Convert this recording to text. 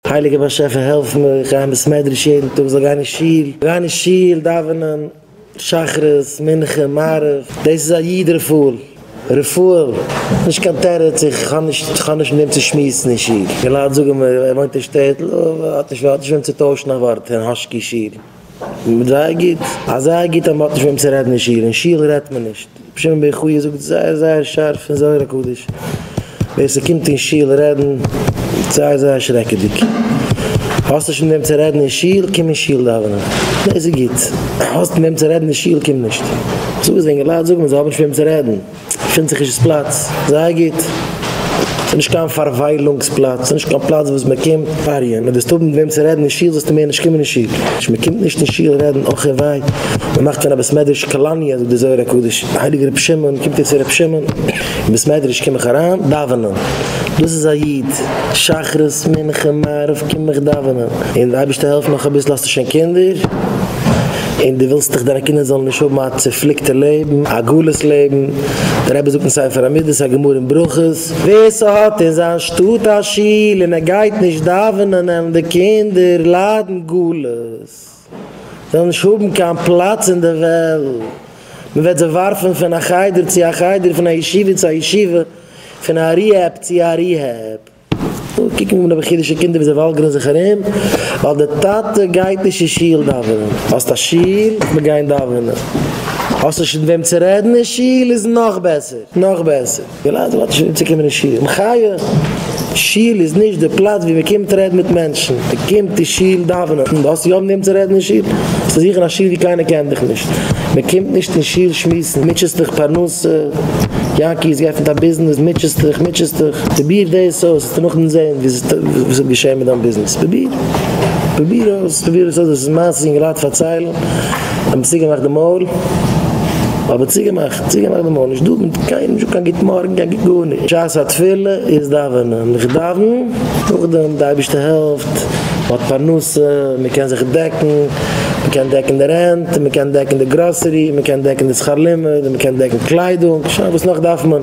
הייליגער באשעפער העלף מיר איך גיי אין בעסמעדרעש יעדן טאג זאל גיין אין שול גיין אין שול דאווענען שחרית מנחה מעריב דאס איז א יוד רפאל רפאל נישט קיין תירוץ איך האב נישט איך האב נישט מיט וועם צו שמועסן אין שול די לייט זאגן מיר ער וואוינט אין שטעטל האט נישט וועם צו טוישן א ווארט אין האשקי שול. זייער גוט, אזייער גוט אז מען האט נישט וועם צו רעדן אין שול, אין שול רעדט מען נישט, רבי שמעון בן חייא זאגט זייער זייער שארף אין זוהר הקדוש, ווער ס'קומט אין שול רעדן איז זייער זייער שרעקעדיג, האסט נישט מיט וועם צו רעדן אין שול, קום אין שול דאווענען, דאס איז גוט, האסט מיט וועם צו רעדן אין שול, קום נישט, זאג עס די אינגעלייט זאגן, זיי האבן נישט מיט וועם צו רעדן. געפינט זיך נישט דאס פלאץ זייער גוט, ס'איז נישט קיין פארוויילונגס פלאץ, ס'איז נישט קיין פלאץ וואס מען קומט פאריען, מען דארסט האבן מיט וועם צו רעדן אין שול זאלסטו מער נישט קומען אין שול, מען קומט נישט אין שול רעדן אויך אין וויין, מען מאכט פון א בית מדרש קאלאניע זאגט דער זוהר הקדוש, הייליגער רבי שמעון קומט איר צו רבי שמעון אין בית מדרש קום איך אריין דאווענען, דאס איז א איד, שחרית מנחה מעריב קום איך דאווענען, און די אייבערשטער העלפט נאך אביסל האסטו שוין קינדער. און דו ווילסט דאך דיינע קינדער זאלן נישט האבן א צופליקטע לעבן, א גלות לעבן, דער רבי זאגט אין ספר המידות א גמרא אין ברכות, ווער ס'האט אין זיין שטאט א שול און ער גייט נישט דאווענען וועלן די קינדער ליידן גלות, זיי וועלן נישט האבן קיין פלאץ אין די וועלט, מען וועט זיי ווארפן פון א חדר צו א חדר, פון א ישיבה צו א ישיבה, פון א ריהעב צו א ריהעב. קוקן אן אויף חרדישע קינדער ווי זיי וואלגערן זיך ארום ווייל דער טאטע גייט נישט אין שול דאווענען. האסט א שול? מיר גייען דאווענען. האסט נישט מיט וועם צו רעדן אין שול? איז נאך בעסער. נאך בעסער. וויל איינער זאל אנטשעדען צו קומען אין שול. מחיה! שול איז נישט די פלאץ ווי מען קומט רעדן מיט מענטשן. מען קומט אין שול דאווענען. האסט יא מיט וועם צו רעדן אין שול? האסט צו זוכן א שול ווי קיינער קען דיך נישט. מען קומט נישט אין שול שמועסן, מוטשעסט דיך פרנסה, יענקי איז געעפנט א ביזנעס, מוטשעסט דיך, מוטשעסט דיך, פרוביר דאס אויס, וועסטו נאכדעם זען וואס וועט געשען מיט דיין ביזנעס, פרוביר, פרוביר אויס, פרוביר עס אויס, דאס איז מעשה יונגעלייט פארציילן, האט מיר צוגעמאכט די מויל, אבער צוגעמאכט, צוגעמאכט די מויל, נישט דא מיט קיינעם, נישט קיין גוט מארגן, קיין גוט גארנישט, שעת התפילה איז דאווענען, איך דאווען, נאכדעם די אייבערשטער העלפט, מען האט פרנסה, מען קען זיך דעקן. מען קען דעקן די רענט, מען קען דעקן די גראסערי, מען קען דעקן די שכר לימוד, מען קען דעקן קליידונג, שוין וואס נאך דארף מען?